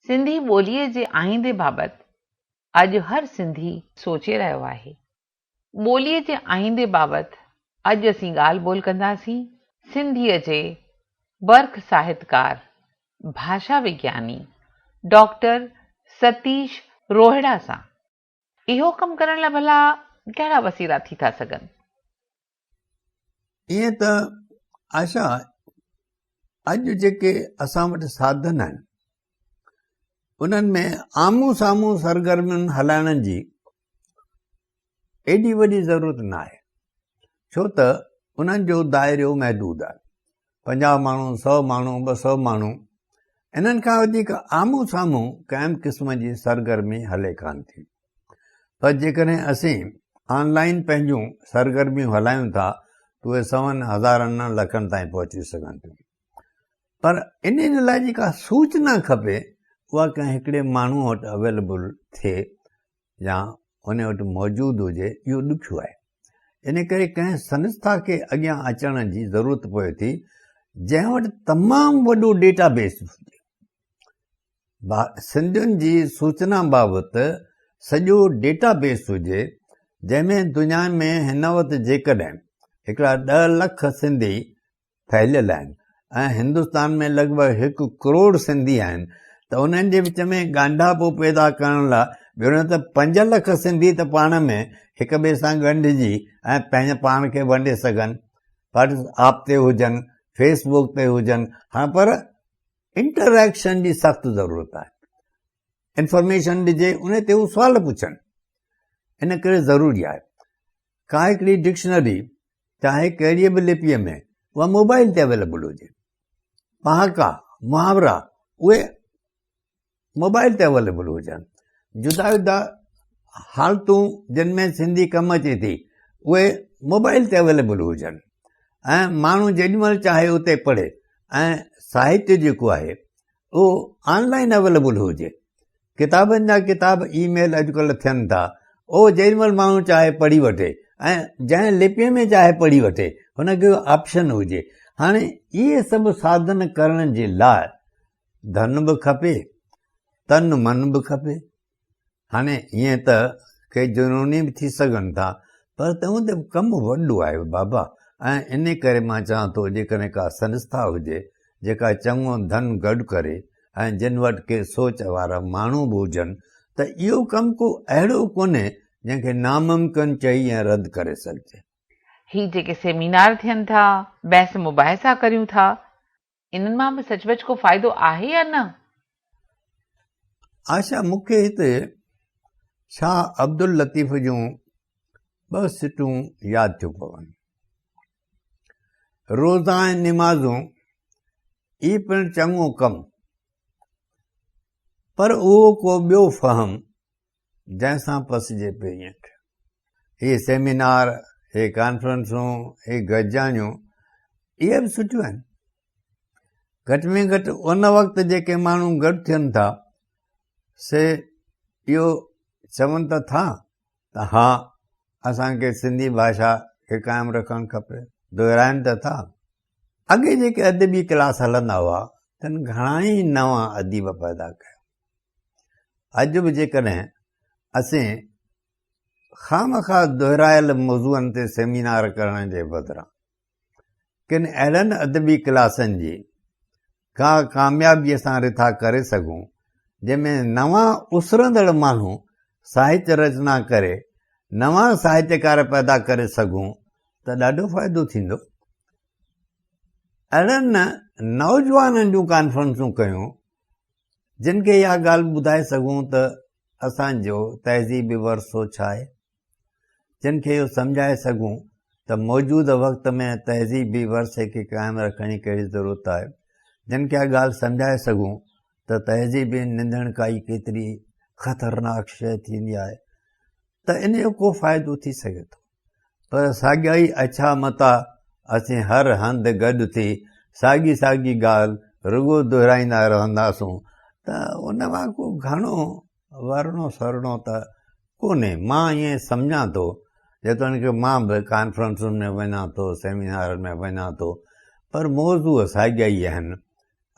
سنڌي ٻوليء جي آئيندي بابت اڄ هر سنڌي سوچي رهيو آهي. ٻوليء جي آئيندي بابت اڄ اسين ڳالهه ٻولهه ڪنداسين سنڌيء جي برک ساهتڪار، ڀاشا وگياني ڊاڪٽر ستيش روهڙا سان. اهو ڪم ڪرڻ لاء ڀلا ڪهڙا وسيلا ٿي ٿا سگهن؟ ائين ته عائشه اڄ جيڪي اسان وٽ ساڌن آهن انهن ۾ آمهون سامهون سرگرمين هلائڻ جي ايڏي وڏي ضرورت نه آهي ڇو ته انهن جو دائرو محدود آهي پنجاهه ماڻهو، سؤ ماڻهو، ٻه سؤ ماڻهو، انهن کان وڌيڪ آمهون سامهون ڪنهن به قسم جي سرگرمي هلي ڪانه ٿي. پر جيڪڏهن اسين آن لائين پنهنجون سرگرميون هلايون ٿا ته اهي سون، هزارن نه لکن تائين پهچي سگهن ٿيون. پر انهن لاء جيڪا سوچنا کپي اها ڪنهن هڪڙي ماڻهو وٽ اويليبل ٿئي. يا ان وٽ موجود هجي اهو ڏکيو آهي ان ڪري ڪنهن سنسٿا کي اڳيان اچڻ جي ضرورت پوي ٿي جنهن وٽ تمام وڏو ڊيٽا بيس هجي سنڌين جي سوچنا بابت سڄو ڊيٽا بيس هجي جنهن ۾ دنيا ۾ هن وقت جيڪڏهن هڪڙا ڏهه لک سنڌي ڦهليل آهن ۽ هندستان ۾ لڳ ڀڳ هڪ ڪروڙ سنڌي آهن ته انهن جي وچ ۾ ڳانڍاپو پيدا ڪرڻ لاء ڀيڻو ته پنج لک سنڌي ته پاڻ ۾ هڪ ٻئي سان ڳنڍجي ۽ پنهنجي پاڻ کي ونڊي سگهن واٽس آپ تي هجن فيس بڪ تي هجن هاڻ پر انٽريڪشن جي سخت ضرورت آهي انفارميشن ڏجي ان تي هو سوال پڇن ان ڪري ضروري آهي ڪا هڪڙي ڊڪشنري چاهي ڪهڙيء به لپيء ۾ اها موبائيل تي اويليبل هجي. پهاڪا، محاورا اهي موبائيل تي اويليبل هجن. جدا جدا حالتون جن ۾ سنڌي ڪم اچي ٿي اهي موبائيل تي اويليبل هجن ۽ ماڻهو جيڏي مهل چاهي اتي پڙهي ۽ ساهتيه جيڪو آهي اهو آن لائن اويليبل هجي ڪتابن جا ڪتاب اي ميل اڄڪلهه ٿين ٿا اهو جيڏي مهل ماڻهو چاهي پڙهي وٺي ۽ جنهن لپيء ۾ چاهي پڙهي وٺي هن کي آپشن هجي هاڻي اهي سڀ ساڌن ڪرڻ جي لاء ڌن به کپي تن من به کپي هاڻي ائين ته ڪي جنوني به ٿي سگهن ٿا پر تنهن تي ڪم وڏو آهي بابا ۽ ان ڪري مان چوان ٿو جيڪڏهن ڪا سنسٿا هجي جيڪا چڱو ڌن گڏ ڪري ۽ جن وٽ ڪي سوچ وارا ماڻهو به هجن ته اهو ڪم ڪو اهڙو ڪونهي جنهن کي ناممڪن چئي ۽ رد ڪري سگهجي. هي جيڪي سيمينار ٿين ٿا، بحث مباحثا ڪريون ٿا، انهن مان به سچ پچ ڪو فائدو آهي يا نه؟ آشا مون کي هتي شاهه عبداللطيف جون ٻه سٽون ياد ٿيون پون. روزا ۽ نمازون اي پڻ چڱو ڪم پر اهو ڪو ٻيو فهم جنهن سان پسجي پئي ائين ٿيو. هي سيمينار، هي ڪانفرنسون، هي گڏجاڻيون اهي به سٺيون آهن. گهٽ ۾ گهٽ ان وقت جيڪي ماڻهو گڏ ٿين ٿا سي اهو چون ته ٿا ته ها اسانکي سنڌي ڀاشا کي قائم رکڻ کپي دهرائن ته ٿا اڳي جيڪي ادبي ڪلاس هلندا هئا تن گهڻا ئي نوان اديب پيدا ڪيا اڄ به جيڪڏهن اسين خامخواه دهرايل موضوعن تي سيمينار ڪرڻ جي بدران ڪن اهڙن ادبي ڪلاسن جي ڪا ڪاميابيء سان رٿا ڪري سگهون جنهن ۾ نوان اسرندڙ ماڻهو ساهتيه رچنا ڪري نوان ساهتيڪار پيدا ڪري سگهون ته ڏاڍو فائدو ٿيندو اهڙن نوجوانن جون ڪانفرنسون ڪيون جن کي اها ڳالهه ٻڌائي سگهون ته اسان جو تهذيبي ورثو ڇا آهي، جن کي اهو سمجهائي سگهون ته موجوده وقت ۾ تهذيبي ورثي کي قائم رکڻ جي ڪهڙي ضرورت آهي، جن کي اها ڳالهه سمجهائي سگهون ته تهذيبي نندڻڪائي ڪيتري خطرناڪ شيء ٿيندي آهي ته ان جو ڪو فائدو ٿي سگهي ٿو. پر ساڳيائي اڇا متا اسين هر هنڌ گڏ ٿي ساڳي ساڳي ڳالهه رڳو دهرائيندا رهنداسون ته ان مان ڪو گهڻو ورڻو سرڻو ته ڪونهي مان ائين سمجهان ٿو جيتوڻيڪ مان به ڪانفرنسن ۾ وڃان ٿو سيمينارن ۾ وڃان ٿو پر موضوع ساڳيا ئي آهن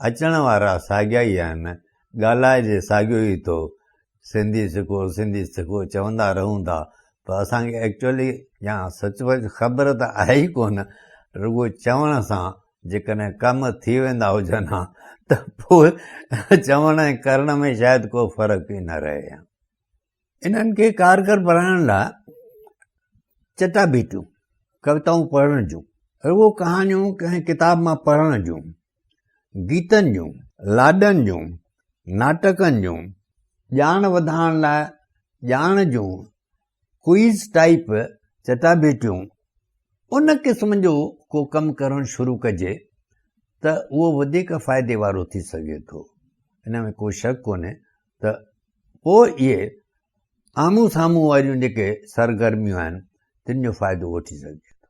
اچڻ وارا ساڳيا ئي آهن، ڳالهائجي ساڳيو ئي ٿو، سنڌي سکو سنڌي سکو چوندا رهون ٿا پر اسان کي ايڪچوئلي يا سچ پچ خبر ته آهي ئي ڪونه، رڳو چوڻ سان جيڪڏهن ڪم ٿي ويندا هجن ها ته پوء چوڻ ۽ ڪرڻ ۾ شايد ڪو فرق ئي نه رهي ها. انهن کي ڪارگر بڻائڻ لاء چٽاڀيٽيون، ڪويتائون پڙهڻ جون، رڳو ڪهاڻيون ڪنهن ڪتاب مان پڙهڻ جون، گيتن جون، لاڏن جون، ناٽڪن جون، ڄاڻ وڌائڻ لاء ڄاڻ جون ڪوئيز ٽائيپ چٽاڀيٽيون ان قسم جو ڪو ڪم ڪرڻ شروع ڪجي ته اهو وڌيڪ فائدي وارو ٿي سگهي ٿو ان ۾ ڪو شڪ ڪونهي ته پوء اهي آمهون سامهون واريون جيڪي سرگرميون آهن تن جو فائدو وٺي سگهجي ٿو.